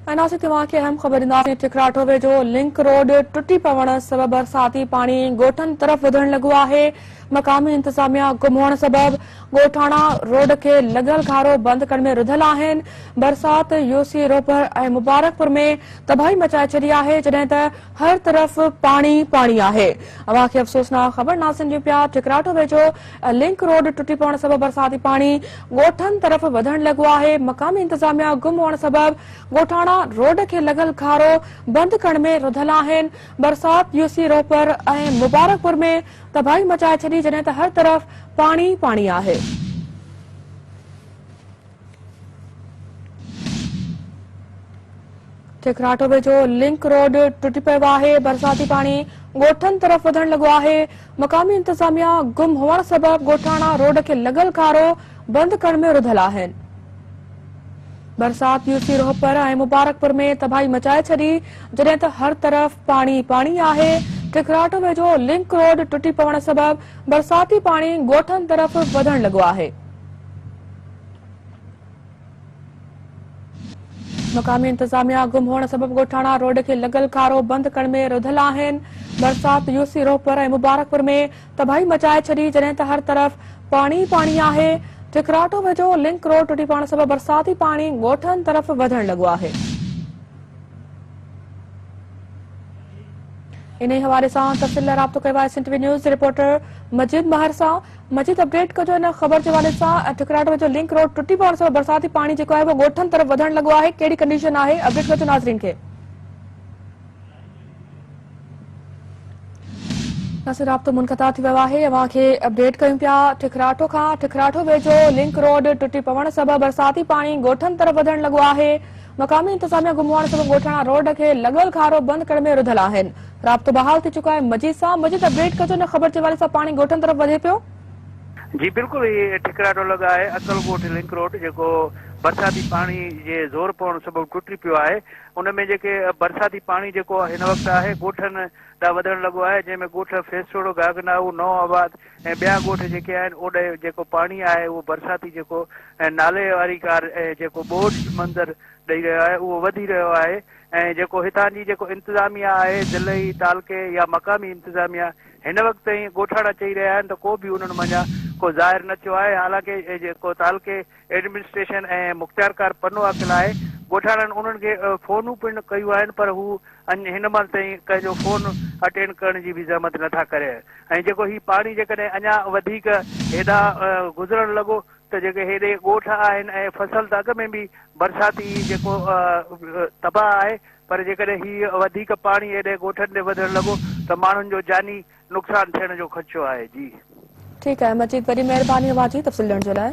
۽ ناسي توهان کي اهم خبر ڏينداسين ٺڪراٺو ويجهو لنڪ روڊ ٽٽي پوڻ سبب برساتي پاڻي ڳوٺن طرف وڌڻ لڳو آهي مقامي انتظاميا گم هئڻ سبب ڳوٺاڻا روڊ کي لڳل گهارو بند ڪرڻ ۾ رڌل آهن برسات يوسي روپر ۽ مبارڪپور ۾ تباهي مچائي ڇڏي آهي جڏهن ته هر طرف پاڻي پاڻي آهي. اوهان کي افسوسناڪ خبر ناسين جي پيا ٺڪراٽو ويجهو لنڪ روڊ ٽٽي پوڻ سبب برساتي پاڻي ڳوٺن طرف وڌڻ لڳو آهي مقامي انتظاميا گم هئڻ سبب ڳوٺاڻا روڊ کي لڳل کارو بند ڪرڻ ۾ رڌل آهن برسات يوسي روهپر ۽ مبارڪ پور ۾ تباهي مچائي ڇڏي جڏهن ته هر طرف پاڻي پاڻي آهي. ٺڪراٺ ويجهو لنڪ روڊ ٽٽي پيو آهي برساتي پاڻي ڳوٺن طرف وڌڻ لڳو آهي مقامي انتظاميا گم هئڻ سبب ڳوٺاڻا روڊ کي لڳل کارو بند ڪرڻ ۾ رڌل آهن برسات يوسي روهپر ۽ مبارڪپور ۾ تباهي مچائي ڇڏي جڏهن ته هر طرف پاڻي پاڻي آهي ٺڪراٺ ويجهو لنڪ روڊ ٽٽي پوڻ سبب برساتي پاڻي ڳوٺن طرف وڌڻ لڳو آهي مقامي انتظاميا گم هئڻ سبب ڳوٺاڻا روڊ کي لڳل کارو بند ڪرڻ ۾ رڌل آهن. برسات يوسي روهپر ۽ مبارڪپور ۾ تباهي مچائي ڇڏي جڏهن ته هر طرف پاڻي ئي پاڻي آهي. ٺڪراٽو ويجهو لنڪ روڊ ٽٽي پوڻ سبب برساتي پاڻي ڳوٺن طرف وڌڻ لڳو آهي. انهي حوالي سان تفصيل لاء رابطو ڪيو آهي سنڌ ٽي وي نيوز جي رپورٽر مجيد مهر سان. مجيد اپڊيٽ ڪجو ان خبر جي حوالي سان ٺڪراٽ ويجهو لنڪ روڊ ٽٽي پوڻ سبب برساتي پاڻي جيڪو آهي اهو ڳوٺن طرف وڌڻ لڳو آهي ڪهڙي ڪنڊيشن آهي اپڊيٽ ڪجو ناظرين کي اسين رابطو منقطع ٿي ويو آهي اوهان کي اپڊيٽ ڪيون پيا ٺڪراٽو کان ٺڪراٽو ويجهو لنڪ روڊ ٽٽي پوڻ سبب برساتي پاڻي ڳوٺن طرف وڌڻ لڳو آهي مقامي انتظاميا گم هئڻ سبب ڳوٺاڻا روڊ کي لڳل کارو بند ڪرڻ ۾ رڌل آهن رابطو بحال ٿي چڪو آهي مجيد سان مجيد اپڊيٽ ڪجو نه خبر جي حوالي سان پاڻي ڳوٺن طرف وڌي پيو. جي بلڪل هي ٺڪراٽو لڳ آهي اڪل ڳوٺ لنڪ روڊ جيڪو برساتي پاڻي جي زور پوڻ سبب ٽٽي پيو آهي ان ۾ جيڪي برساتي پاڻي جيڪو هن وقت آهي ڳوٺن ڏانهن وڌڻ لڳو آهي جنهن ۾ ڳوٺ فيسوڙو گاگنائو نئون آباد ۽ ٻيا ڳوٺ جيڪي آهن اوڏي جيڪو پاڻي آهي اهو برساتي جيڪو نالي واري ڪار جيڪو ٻوڏ منظر ڏئي رهيو آهي اهو وڌي رهيو آهي ۽ جيڪو هتان جي جيڪو انتظاميا آهي ضلعي، تعلقي يا مقامي انتظاميا هن وقت تائين ڳوٺاڻا چئي رهيا آهن ته ڪو به انهن منجهان ڪو ظاهر نه ٿيو آهي حالانڪه جيڪو تعلقي ايڊمنسٽريشن ۽ مختيارڪار پنو عاقل آهي ڳوٺاڻن انهن کي فونون پڻ ڪيون آهن پر هو اڃ هن مهل تائين ڪنهن جو فون اٽينڊ ڪرڻ جي به زحمت نه ٿا ڪرين ۽ جيڪو هي پاڻي جيڪڏهن اڃا وڌيڪ هيڏانهن گذرڻ لڳو ته جيڪي هيڏي ڳوٺ آهن ۽ فصل ته اڳ ۾ به برساتي جيڪو تباهه آهي پر جيڪڏهن هي وڌيڪ پاڻي هيڏي ڳوٺن تي وڌڻ لڳو ته ماڻهن جو جاني نقصان ٿيڻ جو خدشو آهي جي. ٺيڪ آهي مجيد وڏي مهرباني اوهان جي تفصيل ڏيڻ جي لاء.